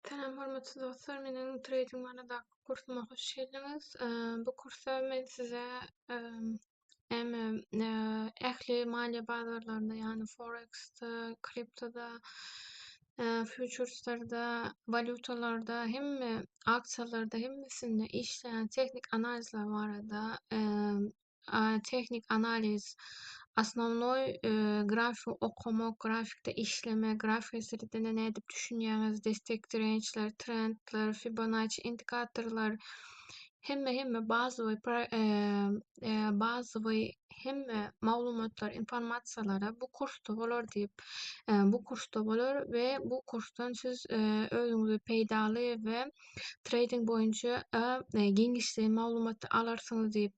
Salam hormatly dostlar, meniň trading baradaky kursyma hoş geldiňiz. Bu kursa men size hem ähli maliýe bazarlarynda, ýagny forex-de, kriptoda, futureslarda, walýutalarda, hemme aksiýalarda, hemmesinde işleýän tehniki analizler barada tehnik analiz, osnownoý grafiki okamak, grafikde işlemek, grafika sritine nädip düşünýäňiz, destek dirençler, trendler, Fibonacci indikatorlar, hemme hemme bazawy bazawy hemme maglumatlar, informasiýalara bu kursda bolar diýip, bu kursda bolar we bu kursdan siz özüňizi peýdaly we treýding boýunça giňişleýin maglumat alarsyňyz diýip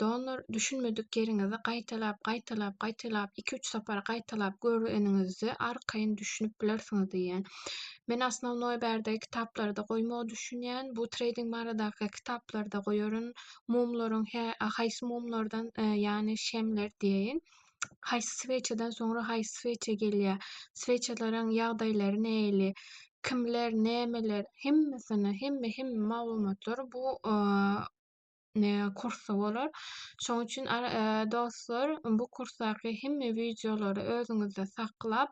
Donor, düşünmedik ýeriňizi gaýtalap, gaýtalap, gaýtalap, iki-üç sapar gaýtalap göreniňizde arkaýyn düşünip bilersiňiz diýýän. Men osnownoý bärde kitaplarda goýmagy düşünýän. Bu treýding baradaky kitaplarda goýaryn. Mumlaryň hä, haýsy mumlardan, ýagny şemler diýeýin. Haýsy swetçadan soňra haýsy swetça gelýär. Swetçalaryň ýagdaýlary näili, kimler, nämeler, hemmesini, hemme, hemme maglumatlary bu kursy bolar. Şoň üçin dostlar, bu kursdaky hemme wideolary özüňizde saklap,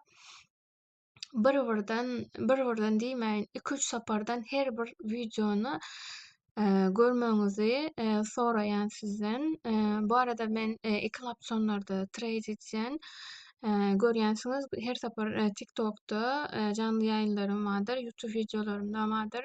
bir-birden, bir-birden diýmäýin, iki-üç sapardan her bir wideony görmegiňizi soraýan sizden. Bu arada men iki laptonlarda treýd edýän. Görýänsiňiz, her sapar TikTokda janly ýaýynlarym bardyr, YouTube wideolarymda bardyr.